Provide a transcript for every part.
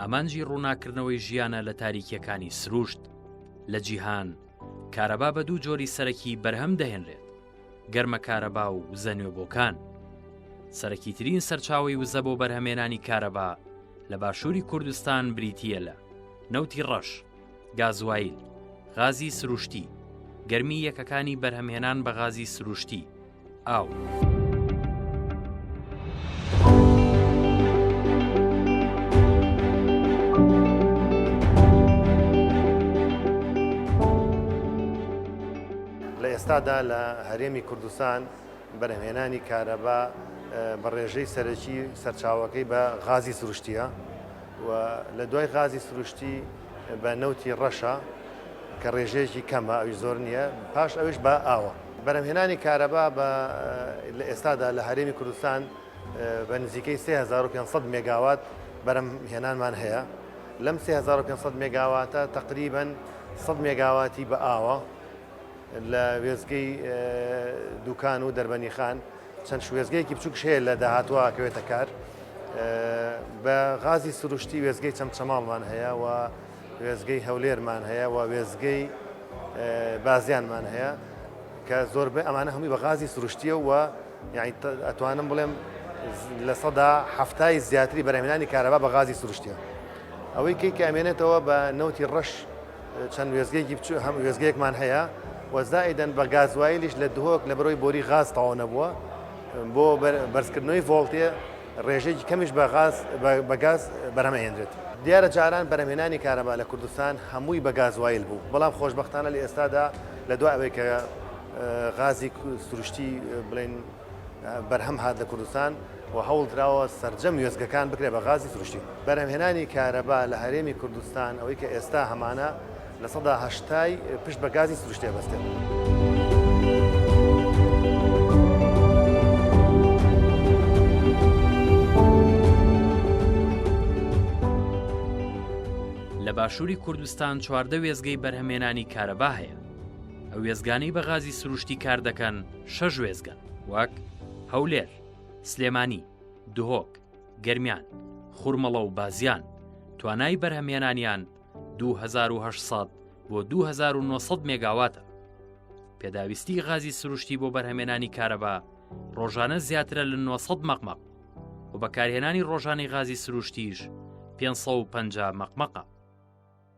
ئامانجی ڕووناکردنەوەی ژیانە لە تاریکیەکانی سروشت لە جیهان کارەبا بە دوو جۆری سەرەکی بەرهەم دەهێنرێت گەرمە کارەبا و وزە نوێبۆکان سەرەکی ترین سەرچاوی وزە بۆ بەرهەمێنانی کارەبا لە باشووری کوردستان بریتە لە نەوتی ڕەش گازوایل غازی سروشتی گەرمی یەکەکانی بەرهەمهێنان بە غازی سروشتی ئاو. ئێستادا لە هەرێمی کوردستان بەرهمێنانی کارەبا بە ڕێژەی سەرەکی سەرچاوەکەی بە غازی سروشتیە و لە دوای غازی سروشتی بە نەوتی ڕەشە کە ڕێژەیەکی کەمە ئەوی زۆر نییە پاش ئەوش بە ئاوە بەرهەمهێنانی کارەبا بە لە ئێستادا لە هەرێمی کوردستان بە نزیکەی 3500 مێگاوات بەرهەمهێنانمان هەیە، لەم 3500 مێگاواتە تەقریبەن 100 مێگاواتی بە ئاوە لە وێستگەی دووکان و دەربەنیخان، چەند شوێستگەیەکی بچووکش هەیە لە داهاتووە ئەکەوێتە کار، بە غازی سروشتی وێستگەی چەمچەماڵمان هەیە و وێستگەی هەولێرمان هەیە و وێستگەی بازیانمان هەیە کە زۆربەی ئەمانە هەمووی بە غازی سروشتیە و ئەتوانم بڵێم لە سەدا هەفتای زیاتری بەرهمێنانی کارەبا بە غازی سروشتیە ئەوەی کەی کامێنێتەوە بە نەوتی ڕەش چەند وێزگەیەکی بچوو هەم وێزگەیەکمان هەیە وەزایدەن بە گازوایلیش لە دهۆک لە بەرەوەی بۆری غاز تاوە نەبووە بۆ بەرزکردنەوەی ڤۆڵتێ ڕێژەیەکی کەمیش بە غاز بە گاز بەرهەم ئەهێنرێت. دیارە جاران بەرهەمهێنانی کارەبا لە کوردستان هەمووی بە گازوایل بوو، بەڵام خۆشبەختانە لە ئێستادا لە دوای ئەوەی کە غازی سروشتی بڵێن بەرهەم هات لە کوردستان و هەوڵ دراوە سەرجەم وێستگەکان بکرێت بە غازی سروشتی. بەرهەمهێنانی کارەبا لە هەرێمی کوردستان ئەوەی کە ئێستا هەمانە، لە سەدا هەشتای پشت بە گازی سروشتی ئەبەستێت. لە باشووری کوردستان چواردە وێستگەی بەرهەمێنانی کارەبا هەیە. ئەو وێستگانەی بە غازی سروشتی کار دەکەن شەش وێستگەن وەک، هەولێر، سلێمانی، دهۆک، گەرمیان، خورمەڵە و بازیان، توانای بەرهەمێنانیان 2800 بۆ 2900 مێگاواتە پێداویستی غازی سروشتی بۆ بەرهەمێنانی کارەبا ڕۆژانە زیاترە لە 900 مەقمەق و بەکارهێنانی ڕۆژانی غازی سروشتیش 550 مەقمەقە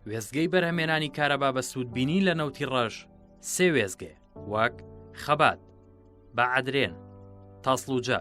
وێزگەی بەرهەمێنانی کارەبا بە سوودبینی لە نەوتی ڕەش سێ وێزگێ وەک خەبات بە عدرێن تاسلوجە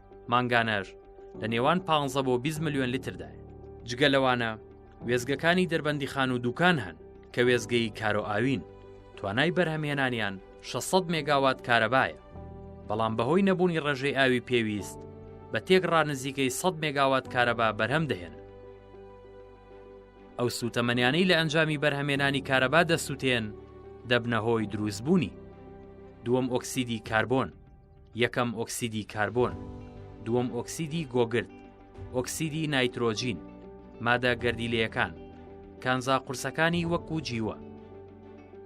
مانگانەر لە نێوان 15 بۆ 20 ملیۆن لیتردایە جگە لەوانە وێزگەکانی دەربەندیخان و دوکان هەن کە وێزگەی کارۆ ئاوین توانای بەرهەمهێنانیان 600 مێگاوات کارەبایە بەڵام بەهۆی نەبوونی ڕێژەی ئاوی پێویست بە تێکڕا نزیکەی 100 مێگاوات کارەبا بەرهەم دەهێن ئەو سوتەمەنیانەی لە ئەنجامی بەرهەمێنانی کارەبا دەسووتێن دەبنە هۆی دروستبوونی دووەم ئۆکسیدی کاربۆن یەکەم ئۆکسیدی کاربۆن، دووەم ئۆکسیدی گۆگرد، ئۆکسیدی نایترۆجین، مادە گەردیلەیەکان، کانزا قورسەکانی وەکو جیوە.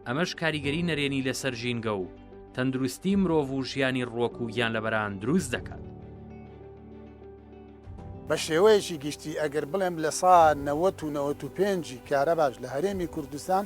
ئەمەش کاریگەری نەرێنی لەسەر ژینگە و تەندروستی مرۆڤ و ژیانی ڕوەک و گیانلەبەران دروست دەکات. بە شێوەیەکی گشتی ئەگەر بڵێم لە سا نەوەت و نەوەت و پێنجی کارەباش لە هەرێمی کوردستان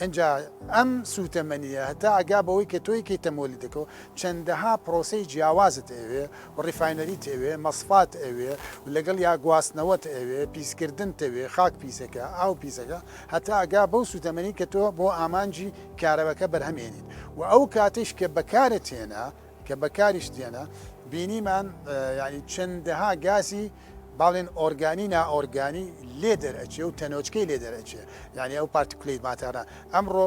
ئینجا ئەم سوتەمەنیە هەتا ئەگا بەوەی کە تۆ یەکەی تەموەلیدەکەو چەندەها پرۆسەی جیاوازت ئەوێ و ریفاینەریت ئەوێ مەسفات ئەوێ و لەگەڵ یا گواستنەوەت ئەوێ پیسکردنت ئەوێ خاک پیسەکە ئاو پیسەکە هەتا ئەگا بەو سوتەمەنی کە تۆ بۆ ئامانجی کارەبەکە بەرهەم هێنیت و ئەو کاتەیش کە بەکارت هێنا کە بەکاریش دێنە بینیمان یانی چەندەها گازی باڵێن ئۆرگانی نائۆرگانی لێ دەرئەچێ و تەنۆچکەی لێ دەرئەچێ یانی ئەو پارتکلەی ماتەرە ئەمڕۆ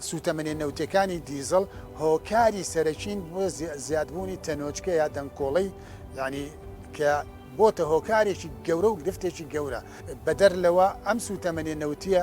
سوتەمەنێ نەوتەکانی دیزڵ هۆکاری سەرەکین بۆ زیادبوونی تەنۆچکە یا دەنکۆڵەی یانی کە بۆتە هۆکارێکی گەورە و گرفتێکی گەورە بەدەر لەوە ئەم سوتەمەنێ نەوتیە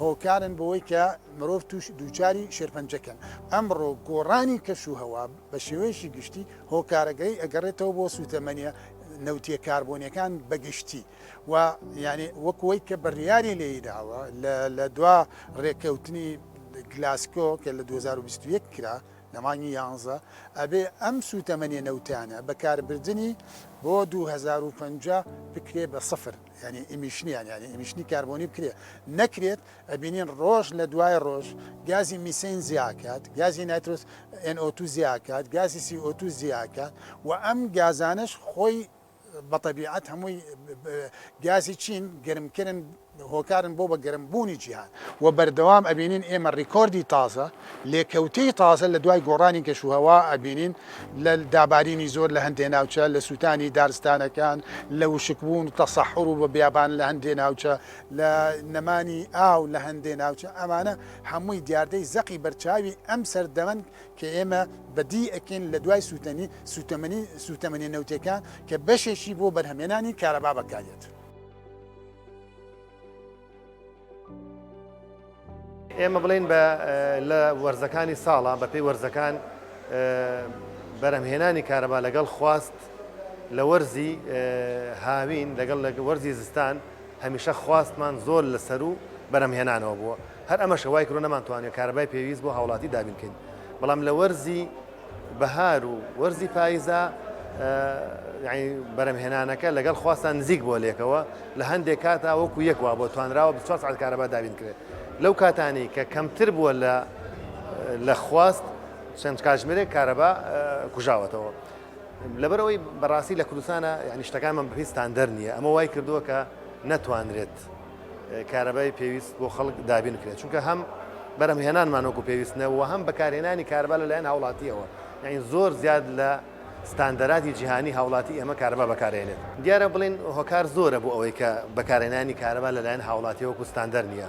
هۆکارن بەوەی کە مرۆڤ تووش دووچاری شێرپەنجە کەن. ئەمڕۆ گۆڕانی کەش و هەوا بە شێوەیەکی گشتی هۆکارەگەی ئەگەڕێتەوە بۆ سووتەمەنیە نەوتیە کاربۆنیەکان بە گشتی و یانێ وەک وەی کە بڕیاری لێی داوە لە لە دوا ڕێکەوتنی گلاسکۆ کە لە دوو هەزار و بیست و یەک کرا لە مانگی یانزە ئەبێ ئەم سووتەمەنیە نەوتیانە بە کاربردنی بۆ دوو هەزار و پەنجا بکرێ بە سفر. یانی ئیمیشنیان یانی ئیمیشنی کاربۆنی بکرێت نەکرێت ئەبینین ڕۆژ لە دوای ڕۆژ گازی میسین زیاکات گازی ناترۆس NO2 زیاکات گازی CO2 زیاکات و ئەم گازانش خۆی بە طبیعەت هەمووی گازی چین گەرمکردن هۆکارن بۆ بە گەرمبوونی جیهان و بەردەوام ئەبینین ئێمە ڕیکۆردی تازە لێکەوتەی تازە لە دوای گۆڕانی کەشوهەوا ئەبینین لە دابارینی زۆر لە هەندێ ناوچە، لە سووتانی دارستانەکان، لە وشکبوون و تەسەحوڕ و بیابان لە هەندێ ناوچە، لە نەمانی ئاو لە هەندێ ناوچە، ئەمانە هەمووی دیاردەی زەقی بەرچاوی ئەم سەردەمەن کە ئێمە بەدی ئەکەین لە دوای سووتەنی سووتەمەنی سووتەمەنیە نەوتیەکان کە بەشێکی بۆ بەرهەمهێنانی کارەبا بەکاریەت. ئێمە بڵێن بە لە وەرزەکانی ساڵە بەپی وەرزەکان بەرەمهێنانی کارەبا لەگەڵ خواست لە وەرزی هاوین لەگەڵ لە وەرزی زستان هەمیشە خواستمان زۆر لەسەر و بەرەمهێنانەوە بووە هەر ئەمەشە وای کرۆ نەمانتوانێت کارەبای پێویست بۆ هاوڵاتی دابینکەین بەڵام لە وەرزی بەهار و وەرزی پاییزە بەرەمهێنانەکە لەگەڵ خواستان نزیک بۆ لێکەوە لە هەندێک کاتا وەکو یەک وا بۆ توانراوە بچوار سعات کارەبا دابین کرێت لەو کاتانی کە کەمتر بووە لە لە خواست چەند کاژمێرێک کارەبا کوژاوەتەوە لەبەرەوەی بەڕاستی لە کوردستانە یعنی شتەکانمان بەپی ستاندەر نییە ئەمە وای کردووە کە نەتوانرێت کارەبای پێویست بۆ خەڵک دابین کرێت چونکە هەم بەرەم هێنانمان وەکو پێویستنەوە هەم بەکارهێنانی کاربا لەلایەن هاوڵاتیەوە یعنی زۆر زیاد لە ستاندەرادی جیهانی هاوڵاتی ئێمە کارەبا بەکارێنێت دیارە بڵین هۆکار زۆرە بۆ ئەوەی کە بەکارێنانی کارەبا لەلایەن هاوڵاتی وەکو ستاندەر نییە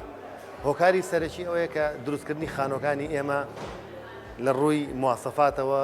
هۆکاری سەرەکی ئەوەیە کە دروستکردنی خانۆکانی ئێمە لە ڕووی موواسەفاتەوە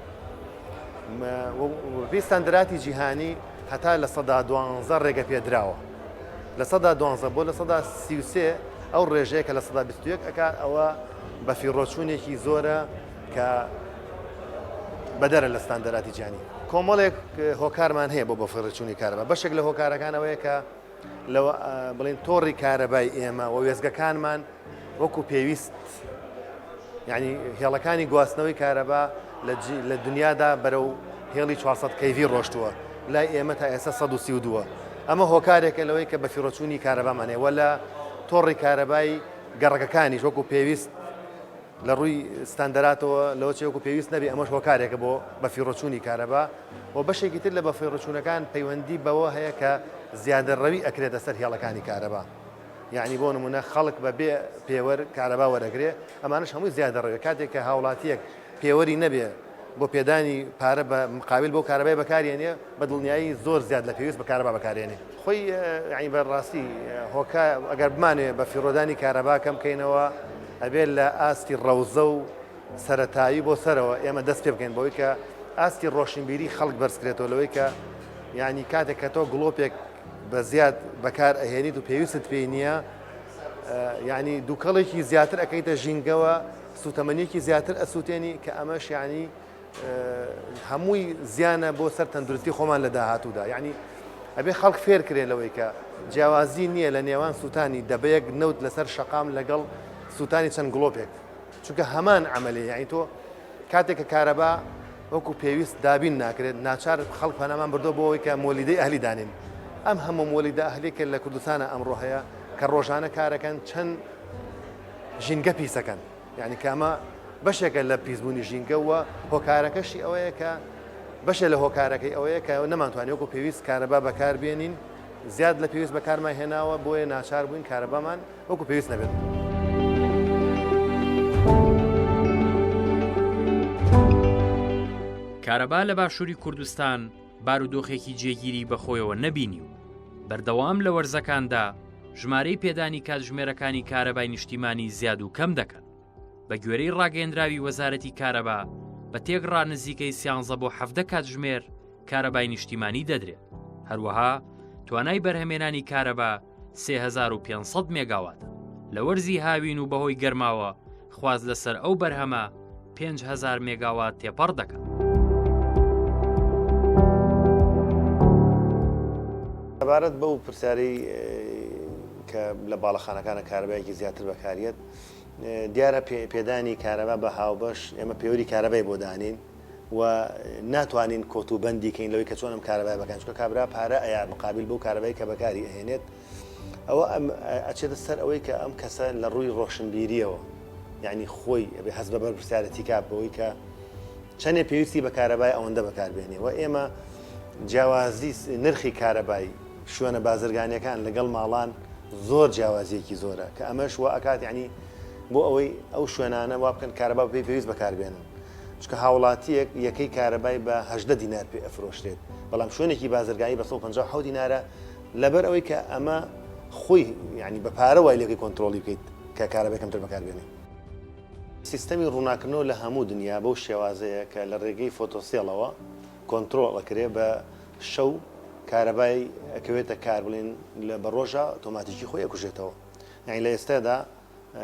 وپێی ستاندەراتی جیهانی هەتا لە سەدا دوانزە ڕێگە پێدراوە لە سەدا دوانزە بۆ لە سەدا سیوسێ ئەو ڕێژەیە کە لە سەدا بیستوێک ئەک ئەوە بە فیڕۆچوونێکی زۆرە کە بەدەرە لە ستاندەراتی جیانی کۆمەڵێک هۆکارمان هەیە بۆ بە فڕچوونی کارەبە بەشێک لە هۆکارەکانەوەیە کە لە بڵین تۆڕی کارەبای ئێمە و وێزگەکانمان وەکو پێویست یعنی هێڵەکانی گواستنەوەی کارەبا لە دنیادا بەرەو هێڵی 400 کەیوی ڕۆشتووە لای ئێمە تا ئێستا 1932 ئەمە هۆکارێکە لەوەی کە بەفیڕۆچوونی کارەبامانێ وە لە تۆڕی کارەبای گەڕەکەکانیش وەکو پێویست لە ڕووی ستاندەراتەوە لەوە چێ وەکو پێویست نەبێ ئەمەش هۆکارێکە بۆ بەفیڕۆچوونی کارەبا و بەشێکی تر لە بەفیڕۆچوونەکان پەیوەندی بەوە هەیە کە زیادەڕەوی ئەکرێتە سەر هێڵەکانی کارەبا یعنی بۆ نمونە خەڵک بە بێ پێوەر کارەبا وەرەگرێ ئەمانش هەمووی زیادەڕەوێ کاتێک کە هاوڵاتیەک پێوەری نەبێ بۆ پێدانی پارە بە مقاویل بۆ کارەبای بەکارێنێ بە دڵنیایی زۆر زیاد لە پێویست بە کارەبا بەکارێنێ خۆی یانی بە ڕاستی هۆکا ئەگەر بمانێ بە فیڕۆدانی کارەبا کەم کەینەوە ئەبێت لە ئاستی ڕەوزە و سەرەتایی بۆ سەرەوە ئێمە دەست پێ بکەین بۆی کە ئاستی ڕۆشنبیری خەڵک بەرزکرێتەوە لەوەی کە یعنی کاتێک کە تۆ گڵۆپێک بە زیاد بەکار ئەهێنیت و پێویستت پێی نییە یعنی دووکەڵێکی زیاتر ئەەکەیتە ژینگەوە سوتەمەنیەکی زیاتر ئەسووتێنی کە ئەمەش یعنی هەمووی زیانە بۆ سەر تەندروستی خۆمان لە داهاتوودا یعنی ئەبێ خەڵک فێر کرێ لەوەی کە جیاوازی نییە لە نێوان سووتانی دەبەیەک نەوت لەسەر شەقام لەگەڵ سووتانی چەند گڵۆپێک چونکە هەمان ئەعملی یعنی تۆ کاتێک کە کارەبا وەکو پێویست دابین ناکرێت ناچار خەڵک پەنامان بردو بۆەوەی کە مۆلیدەی ئەهلی دانین ئەم هەموو مۆلیدا ئەهلێکە لە کوردستانە ئەمڕۆ هەیە کە ڕۆژانە کارەکەن چەند ژینگە پیسەکەن یانی کە ئەمە بەشێکە لە پیسبوونی ژینگە و هۆکارەکەشی ئەوەیە کە بەشێ لە هۆکارەکەی ئەوەیە کە نەمانتوانانی وەکو پێویست کارەبا بەکاربیێنین زیاد لە پێویست بەکارمان هێناوە بۆیە ناچار بووین کارەبامان وەکو پێویست نەبێت. کارەبا لە باشووری کوردستان بارودۆخێکی جێگیری بەخۆیەوە نەبینی و بەردەوام لە وەرزەکاندا ژمارەی پێدانی کاتژمێرەکانی کارەبای نیشتیمانی زیاد و کەم دەکەن بە گوێرەی ڕاگەندراوی وەزارەتی کارەبا بە تێک ڕانزیکەی سیانزە بۆ حەفدە کاتژمێر کارەبای نیشتیمانی دەدرێت هەروەها توانای بەرهەمێنانی کارەبا 3500 مێگاواتە لە وەرزی هاوین و بەهۆی گەرماوە خواست لەسەر ئەو بەرهەمە پێنج هەزار مێگاوات تێپەڕ دەکات. سەبارەت بەو پرسیارەی کە لە باڵەخانەکانە کارەبایەکی زیاتر بەکاریت دیارە پێدانی کارەبا بە هاوبەش ئێمە پێوری کارەبای بۆ دانین و ناتوانین کۆت و بەندیکەین لەوەی کە چۆنم کارەبای بەکەن چکە کابرا پارە ئەیا مقابل بۆ کارەبای کە بەکاری ئەهێنێت ئەوە ئەم ئەچێتە سەر ئەوەی کە ئەم کەسە لە ڕووی ڕۆشنبیریەوە یعنی خۆی ئەبێ هەز بە بەرپرسیارەتی کا بەوەی کە چەندێ پێویستی بە کارەبای ئەوەندە بەکاربێنێ و ئێمە جیاوازی نرخی کارەبای شوێنە بازرگانیەکان لەگەڵ ماڵان زۆر جیاوازیەکی زۆرە کە ئەمەش وە ئەکات یعنی بۆ ئەوەی ئەو شوێنانە وا بکەن کارەبا پێی پێویست بەکاربێنن چکە هاوڵاتیەک یەکەی کارەبای بە هەژدە دینار پێ ئەفرۆشرێت بەڵام شوێنێکی بازرگانی بە 150 دینارە لەبەر ئەوەی کە ئەمە خۆی یانی بە پارە وای لێکەی کۆنترۆڵی بکەیت کە کارەبای کەمتر بەکار بێنی. سیستەمی ڕووناکردنەوە لە هەموو دنیا بەو شێوازەیە کە لە ڕێگەی فۆتۆسێڵەوە کۆنترۆڵ ئەکرێ بە شەو کارەبای ئەکەوێتە کار بڵێن لە بە ڕۆژا ئۆتۆماتیکی خۆی ئەکوژێتەوە یانی لە ئێستادا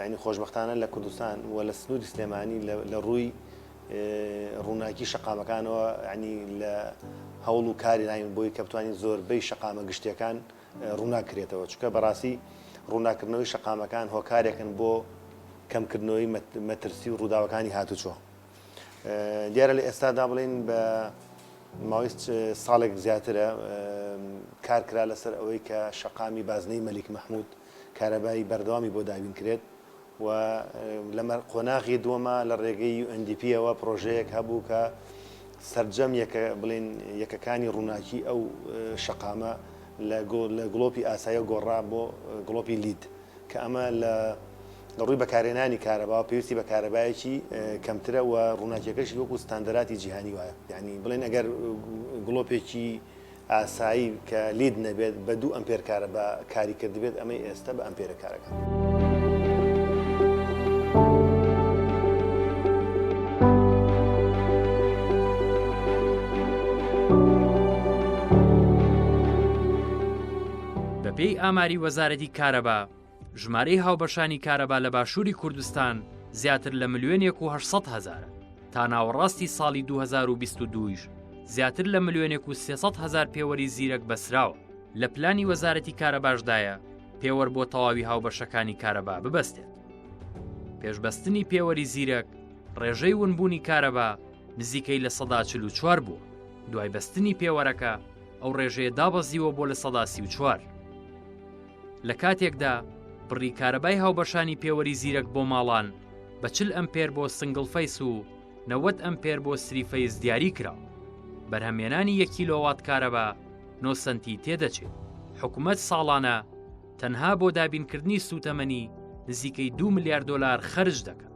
یانی خۆشبەختانە لە کوردستان و لە سنووری سلێمانی لە ڕووی ڕووناکی شەقامەکانەوە ینی لە هەوڵ و کاری ناین بۆی کە بتوانین زۆربەی شەقامە گشتیەکان ڕووناکرێتەوە چکە بەڕاستی ڕووناکردنەوەی شەقامەکان هۆکارێکن بۆ کەمکردنەوەی مەترسی و ڕووداوەکانی هاتوچۆ دیارە لە ئێستادا بڵین بە ماوەی ساڵێک زیاترە کارکرا لەسەر ئەوەی کە شەقامی بازنەی مەلیک مححمود کارەبای بەردەوامی بۆ دابین کرێت و لە قۆناغی دووەما لە ڕێگەی یو ئێن دی پییەوە پڕۆژەیەک هەبوو کە سەرجەم یەکە بڵێن یەکەکانی ڕووناکی ئەو شەقامە لە گڵۆپی ئاسایە گۆڕا بۆ گڵۆپی لید کە ئەمە لە لە ڕووی بەکارێنانی کارەبا پێویستی بە کارەبایەکی کەمترە و ڕووناکیەکەشی وەکو ستاندەراتی جیهانی وایە یعنی بڵێن ئەگەر گڵۆپێکی ئاسایی کە لید نەبێت بە دوو ئەمپێر کارەبا کاری کردبێت ئەمەی ئێستە بە ئەمپێرە کارەکە. بەپێی ئاماری وەزارەتی کارەبا، ژمارەی هاوبەشانی کارەبا لە باشووری کوردستان زیاتر لە ملیۆنێک و هەشت سەد هەزارە تا ناوەڕاستی ساڵی 2022یش زیاتر لە ملیۆنێک و سێ سەد هەزار پێوەری زیرەک بەسراوە لە پلانی وەزارەتی کارەباشدایە پێوەر بۆ تەواوی هاوبەشەکانی کارەبا ببەستێت پێشبەستنی پێوەری زیرەک ڕێژەی ونبوونی کارەبا نزیکەی لە سەدا چل و چوار بووە دوای بەستنی پێوەرەکە ئەو ڕێژەیە دابەزیوە بۆ لە سەدا سی و چوار لە کاتێکدا بڕی کارەبای هاوبەشانی پێوەری زیرەک بۆ ماڵان بە چل ئەمپێر بۆ سنگڵ فەیس و نەوەد ئەمپێر بۆ سری فەیس دیاری کرا بەرهەمێنانی یەک کیلۆوات کارەبا نۆ سەنتی تێدەچێت حکومەت ساڵانە تەنها بۆ دابینکردنی سووتەمەنی نزیکەی دو ملیار دۆلار خەرج دەکات.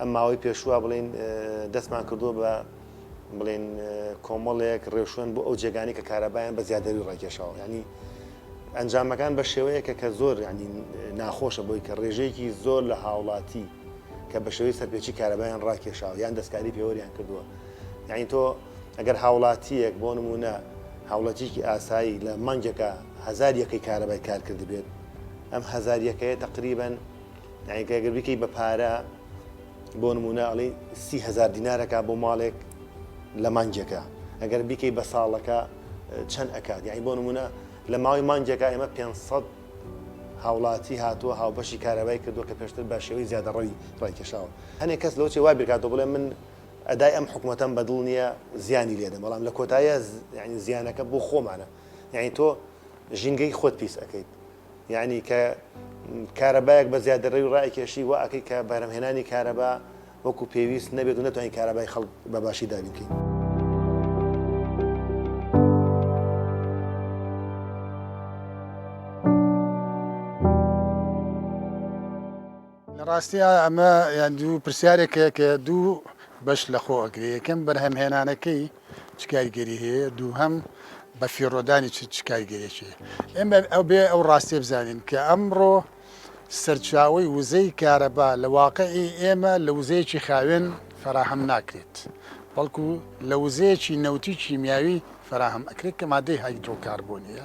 ئەم ماوەی پێشوو وا بڵێین دەستمان کردووە بە بڵێن کۆمەڵێک ڕێوشوێن بۆ ئەو جێگانی کە کارەبایان بە زیادەوی ڕاکێشەوە ینی ئەنجامەکان بە شێوەیەکە کە زۆر ینی ناخۆشە بۆی کە ڕێژەیەکی زۆر لە هاوڵاتی کە بە شێوەی سەرپێچی کارەبایان ڕاکێشاوە یان دەستکاری پێوەریان کردووە یعنی تۆ ئەگەر هاوڵاتیەک بۆ نمونە هاوڵەتیکی ئاسایی لە مانگێکە هزار یەکەی کارەبای کارکرد بێت ئەم هزار یەکەیە تقریبن یانی کە گەر بیکەی بە پارە بۆ نمونە ئەڵی سی هزار دینارەکە بۆ ماڵێک لە مانگێکە ئەگەر بیکەی بە ساڵەکە چەند ئەکات یعنی بۆ نمونە لە ماوەی مانگێکە ئێمە 500 هاوڵاتی هاتووە هاوبەشی کارەبای کردووە کە پێشتر بە شێوەی زیادەڕەوی ڕایکێشاوە هەنێک کەس لەوچێ وا بیرکاتەوە بڵێ من ئەدای ئەم حکوومەتەم بەدڵ نییە زیانی لێدە بەڵام لە کۆتایە زیانەکە بۆ خۆمانە یعنی تۆ ژینگەی خۆت پیس ئەەکەیت یانی کە کارەبایەک بە زیادەڕەوی ڕایکێشی وا ئەکەی کە بەرهەمهێنانی کارەبا وەکو پێویست نەبێت و نەتوانین کارەبای خەڵک بە باشی دابینکەین. ڕاستی ئەمە یان دوو پرسیارێکەیە کە دوو بەش لە خۆ ئەگرێ یەکەم بەرهەمهێنانەکەی چ کاریگەری هەیە دووهەم بە فیڕۆدانی چ کاریگەریەکی ئێمە ئەو بێ ئەو ڕاستێ بزانین کە ئەمڕۆ سەرچاوی وزەی کارەبا لە واقعی ئێمە لە وزەیەکی خاوێن فەراهەم ناکرێت بەڵکو لە وزەیەکی نەوتی کیمیاوی فەراهەم ئەکرێت کە مادەی هایدرۆکاربۆنیە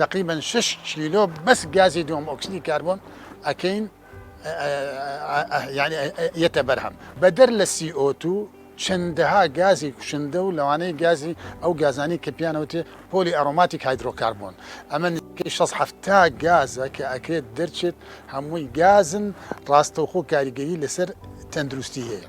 تەقریبەن شەش کیلۆ بەس گازی دووەم ئۆکسدی کاربۆن ئەکەین یەتە بەرهەم بەدەر لە CO2 چەندەها گازی کوشندە و لەوانەیە گازی ئەو گازانی کە پیانەوتێ پۆلی ئەرۆماتیک هایدرۆکاربوون ئەمە نزیکەی 16 گازە کە ئەکرێت دەرچێت هەمووی گازن ڕاستەوخۆ کاریگەری لەسەر تەندروستی هەیە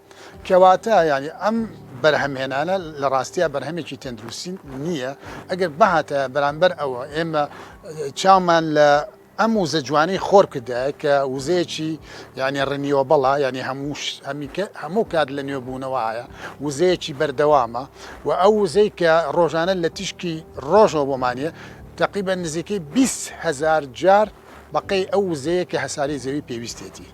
کەواتە یانی ئەم بەرهەمهێنانە لە ڕاستیا بەرهەمێکی تەندروستی نییە ئەگەر بهاتە بەرامبەر ئەوە ئێمە چامان لە ئەم وزە جوانی خۆر کردە کە وزەیەکی یعنی ڕنیوە بەڵا یعنی هەمووش هەمیکە هەموو کات لە نوێبوونەوەایە وزەیەکی بەردەوامە و ئەو وزەی کە ڕۆژانە لە تیشکی ڕۆژەوە بۆمانە تقریبا نزیکەی 20هزار جار بەقەی ئەو وزەیە کە هەساری زەوی پێویستێتی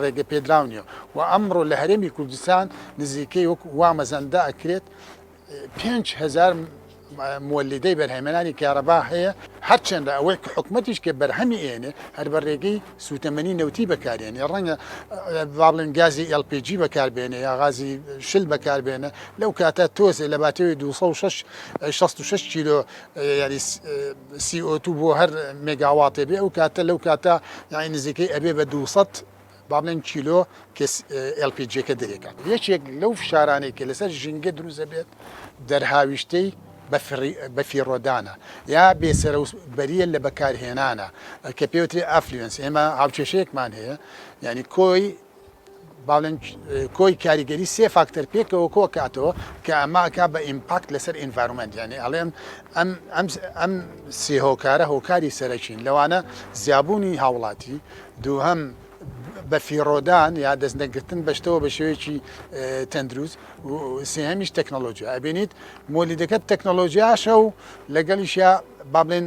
ڕێگەپێدراو نیە و ئەمڕۆ لە هەرێمی کوردستان نزیکەی وەک وا مەزەندە ئەکرێت پێنج هەزار مۆلیدەی بەرهەمێنانی کارەبا هەیە هەرچەندە ئەوەی کە حکومەتیش کە بەرهەمی ئێنێ هەر بە ڕێگەی سووتەمەنی نەوتی بەکارێنێ ڕەنگە بابلن گازی LPG بەکاربێنێ یا غازی شل بەکاربێنە لەو کاتە تۆزێ لە باتەوەی 266 کیلۆ یاری سی ئۆ تو بۆ هەر مێگاواتێ بێ ئەو کاتە لەو کاتە یانی نزیکەی ئەبێ بە دوو سەد با بڵێن کیلۆ کە ئێل پی جیەکە دەرێکات یەکێک لەو فشارانەی کە لەسەر ژینگە دروست دەبێت دەرهاویشتەی بە فیڕۆدانە یا بێسەرە و بەریە لە بەکارهێنانە کە پێوتری ئەفلیۆنس ئێمە هاوکێشەیەکمان هەیە یعنی کۆی باڵێن کۆی کاریگەری سێ فاکتەر پێکەوە کۆکاتەوە کە ئەمە ئەکا بە ئیمپاکت لەسەر ئینڤارمنت یعنی ئەڵێن ئەم ئەم ئەم سێ هۆکارە هۆکاری سەرەکین لەوانە زیابوونی هاوڵاتی دووهەم بە فیڕۆدان یا دەست نەگرتن بەشتەوە بە شێوەیەکی تەندروست سێهمیش تەکنەلۆژیا ئەبێنیت مۆلیدەکەت تەکنەلۆژیاشە و لەگەڵیشە با بڵێن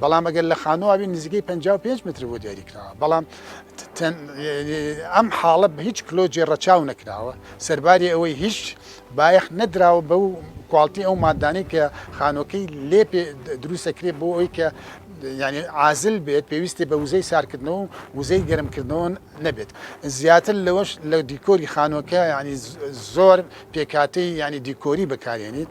بەڵام ئەگەر لە خانوو ئاوی نزیکەی 55 متر بۆ دیاری کراوە بەڵام ئەم حاڵە بە هیچ کلۆجی ڕەچاو نەکراوە سەرباری ئەوەی هیچ بایەخ نەدراوە بە و کوالتی ئەو مادانەی کە خانۆکەی لێ دروستەکرێ بۆ ئەوی کە ینی عازل بێت پێویستی بە وزەی سارکردنەوە و وزەی گەرمکردنەوە نەبێت زیاتر لەوەش لە دیکۆری خانۆکە ینی زۆر پێکاتی ینی دیکۆری بەکارێنیت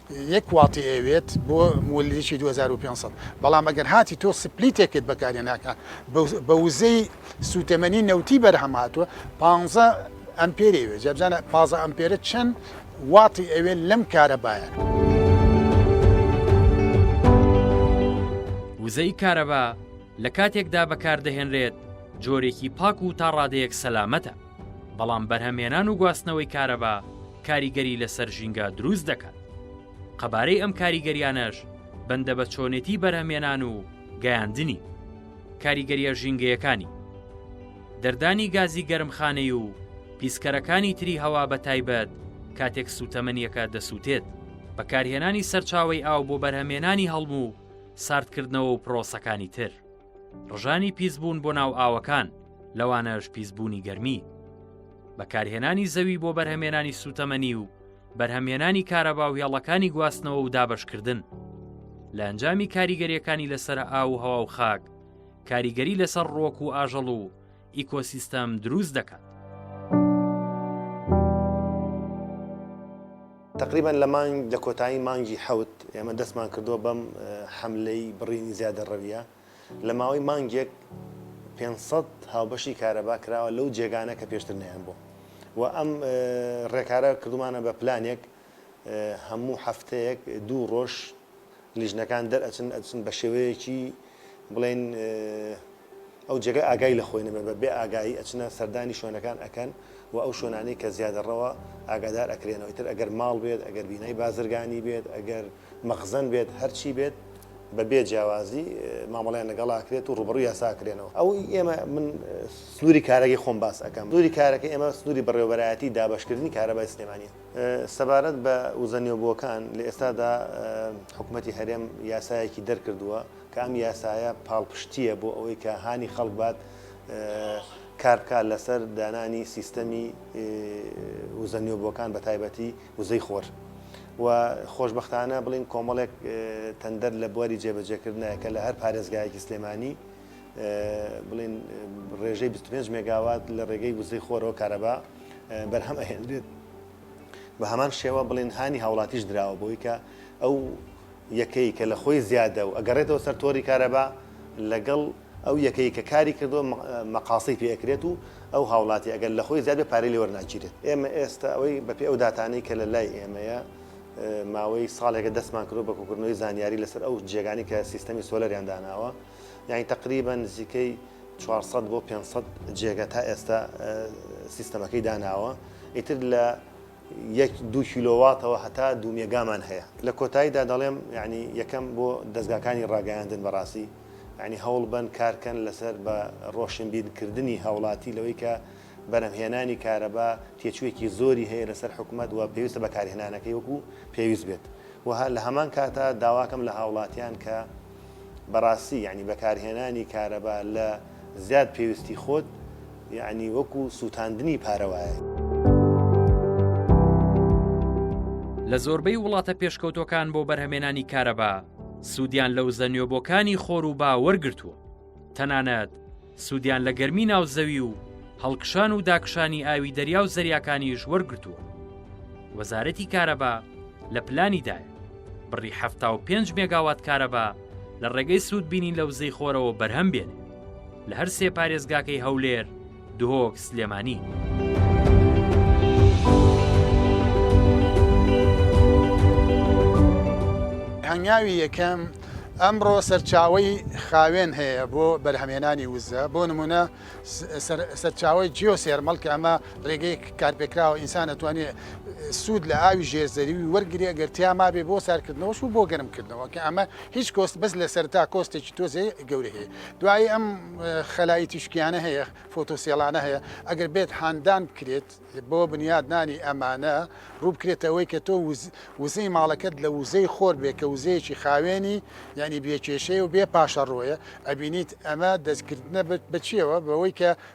یەک واتی ئەوێت بۆ مولریکی دوو هەزار و پێنج سەد بەڵام ئەگەر هاتی تۆ سپلیتێکت بەکارهێناکە بە وزەی سوتەمەنی نەوتی بەرهەم هاتووە پانزە ئەمپێری ئەوێت جا بزانە پازە ئەمپێرە چەند واتی ئەوێت لەم کارەبایە. وزەی کارەبا لە کاتێکدا بەکاردەهێنرێت جۆرێکی پاک و تاڕادەیەک سەلامەتە. بەڵام بەرهەمهێنان و گواستنەوەی کارەبا کاریگەری لەسەر ژینگە دروست دەکات. قەبارەی ئەم کاریگەریانەش بەندە بە چۆنێتی بەرهەمهێنان و گەیاندنی. کاریگەریە ژینگەیەکانی دەردانی گازی گەرمخانەی و پیسکەرەکانی تری هەوا بە تایبەت کاتێک سووتەمەنیەکە دەسووتێت. بەکارهێنانی سەرچاوەی ئاو بۆ بەرهەمێنانی هەڵم و ساردکردنەوە و پرۆسەکانی تر. ڕژانی پیسبوون بۆ ناو ئاوەکان لەوانەش پیسبوونی گەرمی بەکارهێنانی زەوی بۆ بەرهەمێنانی سوتەمەنی و بەرهەمێنانی کارەبا و هێڵەکانی گواستنەوە و دابشکردن لە ئەنجامی کاریگەریەکانی لەسرە ئاو و هەوا و خاک کاریگەری لەسەر ڕۆک و ئاژەڵ و ئیکۆسیستەم دروست دەکات. تەقریبەن لە مانگ لە کۆتایی مانگی حەوت ئێمە دەستمان کردووە بەم حەملەی بڕینی زیادەڕەوییە، لە ماوەی مانگێک پێنج سەد هاوبەشی کارەبا کراوە لەو جێگانە کە پێشتر نەیانبوو و ئەم ڕێکارە کردوومانە بە پلانێک هەموو هەفتەیەک دوو ڕۆژ لیژنەکان دەرئەچن ئەچن بە شێوەیەکی بڵێن ئەو جێگە ئاگای لە خۆی نەبێ بە بێ ئاگایی ئەچنە سەردانی شوێنەکان ئەکەن و ئەو شوێنانی کە زیادەڕەوە ئاگادار ئەکرێنەوە تر ئەگەر ماڵ بێت ئەگەر بینای بازرگانی بێت ئەگەر مەخزن بێت هەرچی بێت بە بێ جیاوازی مامەڵیان لەگەڵاکرێت و ڕوبڕوی یاساکرێنەوە ئەو ئێمە من سنووری کارەکەی خۆم باس ئەەکەم دووری کارەکە ئێمە سنووری بەڕێوبەرایەتی دابشکردنی کارەبای سلێمانە سەبارەت بە وزە نوێبووەکان، لە ئێستادا حکومەتی هەرێم یاسایەکی دەرکردووە کە ئەم یاسایە پاڵپشتییە بۆ ئەوەی کە هانی خەڵک بات کار بکات لەسەر دانانی سیستەمی وزە نوێبووەکان بە تایبەتی وزەی خۆر و خۆشببختانە بڵین کۆمەڵێک تەندەر لە بواری جێبەجێکردنایە کە لە هەر پارێزگایەکی سلێمانی بڵین ڕێژەی 25 مێگاوات لە ڕێگەی وزەی خۆرەوە کارەبا بەرهەم ئەهێنرێت بە هەمان شێوە بڵێن هاانی هاوڵاتیش دراوە بۆی کە ئەو یەکەی کە لە خۆی زیادە و ئەگەڕێتەوە سەر تۆری کارەبا لەگەڵ ئەو یەکەی کە کاری کردو مەقاسی پێکرێت و ئەو هاوڵاتی ئەگەر لە خۆی زیادە پارەی لێوەەر ناگیرێت ئێمە ئێستا ئەوەی بەپی ئەو دااتانەی کە لە لای ئێمەیە ماوەی ساڵێکە دەستمان کرۆ بە کوکردنەوەی زانیاری لەسەر ئەو جێگانی کە سیستەمی سۆلەریان داناوە یانی تەقریبەن نزیکەی چوار سەد بۆ پێنج سەد جێگە تا ئێستا سیستەمەکەی داناوە ئیتر لە یەک دوو کیلۆواتەوە هەتا دوو مێگامان هەیە لە کۆتاییدا دەڵێم یعنی یەکەم بۆ دەستگاکانی ڕاگەیاندن بەڕاستی یعنی هەوڵ بەن کارکەن لەسەر بە ڕۆشنبیرکردنی هاوڵاتی لەوەی کە بەرهەمهێنانی کارەبا تێچووێکی زۆری هەیە لەسەر حکومەت و پێویستە بەکارهێنانەکەی وەکو پێویست بێت و لە هەمان کاتا داواکەم لە هاوڵاتیان کە بەڕاستی یەعنی بەکارهێنانی کارەبا لە زیاد پێویستی خۆت یەعنی وەکو سووتاندنی پارە وایە. لە زۆربەی وڵاتە پێشکەوتووەکان بۆ بەرهەمێنانی کارەبا سوودیان لە وزە نوێبۆکانی خۆر و با وەرگرتووە. تەنانەت سوودیان لە گەرمی ناو زەوی و هەڵکشان و داکشانی ئاوی دەریا و زەریاکانیش وەرگتووە وەزارەتی کارەبا لە پلانیدایە بڕی 75 مێگاوات کارەبا لە ڕێگەی سوودبینین لە وزەی خۆرەوە بەرهەم بێنێ لە هەر سێ پارێزگاکەی هەولێر دهۆک سلێمانی. هەنگاوی یەکەم، ئەمڕۆ سەرچاوەی خاوێن هەیە بۆ بەرهەمهێنانی وزە، بۆ نموونە سەرچاوەی جیۆسێرمەڵ کە ئەمە ڕێگەی کارپێکراوە ئینسان ئەتوانێت سوود لە ئاوی ژێر زەوی وەرگرێت گەر تیا مابێت بۆ ساردکردنەوەش و بۆ گەرمکردنەوە کە ئەمە هیچ کۆست بەس لە سەرتا کۆستێکی تۆزێ گەورەی هەیە دوایی ئەم خەلای تیشکیانە هەیە فۆتۆسێڵانە هەیە ئەگەر بێت هاندان بکرێت بۆ بنیاد نانی ئەمانە ڕووبکرێتەوەی کە تۆ وزەی ماڵەکەت لە وزەی خۆر بێ کە وزەیەکی خاوێنی یعنی بێکێشەیە و بێ پاشە ڕۆیە ئەبینیت ئەمە دەستکردە بە چیەوە بەوەی کە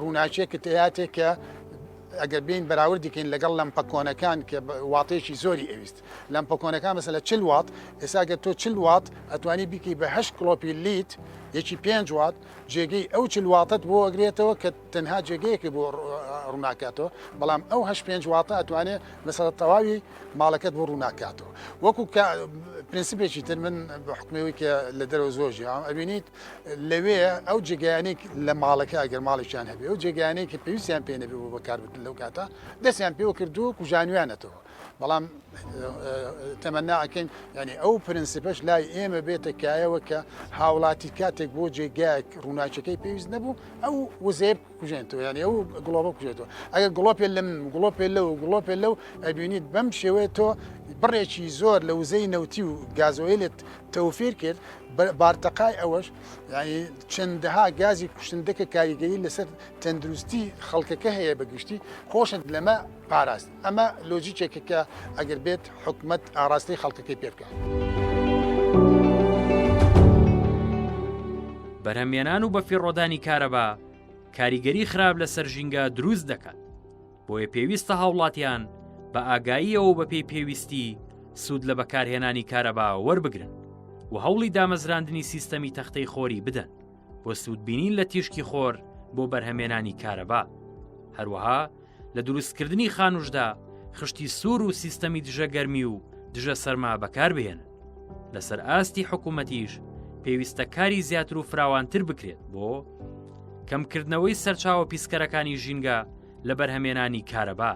ڕووناکیە کە تێیاتێ کە ئەگەر بێین بەراوردی کەین لەگەڵ لەمپە کۆنەکان کە واتەیەکی زۆری ئەویست لەمپە کۆنەکان مەسە لە چل وات ئێسا گەر تۆ چل وات ئەتوانی بیکەی بە هەشت کلۆپی لیت یەکی پێنج وات جێگەی ئەو چل واتت بۆ ئەگرێتەوە کە تەنها جێگەیەکی بۆ ڕووناکاتەوە بەڵام ئەو هەش پێنج واتە ئەتوانێ مەسە تەواوی ماڵەکەت بۆ ڕووناکاتەوە وەکو پرنسپێکی تر من بە حکمەوەی کە لە دەرەوە زۆر ژیان ئەبینیت لەوێ ئەو جێگایانەی لە ماڵەکە ئەگەر ماڵێکیان هەبێ ئەو جێگایانەی کە پێویستیان پێ نەبێ بۆ بەکاربردن لەو کاتە دەستیان پێوە کردو و کوژانویانەتەوە بەڵام تەمەناکەین ینی ئەو پرەنسیپەش لای ئێمە بێتە کایەوە کە هاوڵاتی کاتێک بۆ جێگایەک ڕووناچەکەی پێویست نەبوو ئەو وزێب کوژێنەوە یانی ئەو گڵۆبە کوژێتەوە ئەگە گڵۆپێ لەم گڵۆپێ لەو گڵۆپێ لەو ئەبینیت بەم شێوەیە تۆ بڕێکی زۆر لە وزەی نەوتی و گازۆیلت توفیر کرد، بارتەقای ئەوەش یانی چەندەها گازی کوشندە کە کاریگەری لەسەر تەندروستی خەڵکەکە هەیە بە گشتی خۆشت لەمە پاراست، ئەمە لۆجیکێکە کە ئەگەر بێت حکومەت ئاراستەی خەڵکەکەی پێ بکات. بەرهەمێنان و بەفیڕۆدانی کارەبا کاریگەری خراپ لەسەر ژینگە دروست دەکات. بۆیە پێویستە هاوڵاتیان بە ئاگاییەوە بەپی پێویستی سوود لە بەکارهێنانی کارەبا وەربگرن و هەوڵی دامەزراندنی سیستەمی تەختەی خۆری بدەن بۆ سوودبینین لە تیشکی خۆر بۆ بەرهەمێنانی کارەبا هەروەها لە دروستکردنی خانوشدا خشتی سوور و سیستەمی دژە گەرمی و دژە سەرما بەکاربهێن لەسەر ئاستی حکوومەتیش پێویستە کاری زیاتر و فراوانتر بکرێت بۆ کەمکردنەوەی سەرچاوە پیسکەرەکانی ژینگە لە بەرهەمێنانی کارەبا،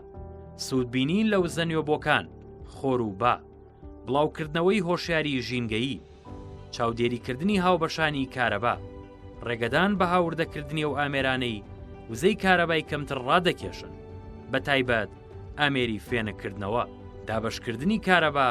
سوودبینین لە وزە نوێبۆکان، خۆر و با، بڵاوکردنەوەی هۆشیاری ژینگەیی، چاودێریکردنی هاوبەشانی کارەبا، ڕێگەدان بە هاوردەکردنی و ئامێرانەی وزەی کارەبای کەمتر ڕادەکێشن، بە تایبەت ئامێری فێنککردنەوە، دابەشکردنی کارەبا،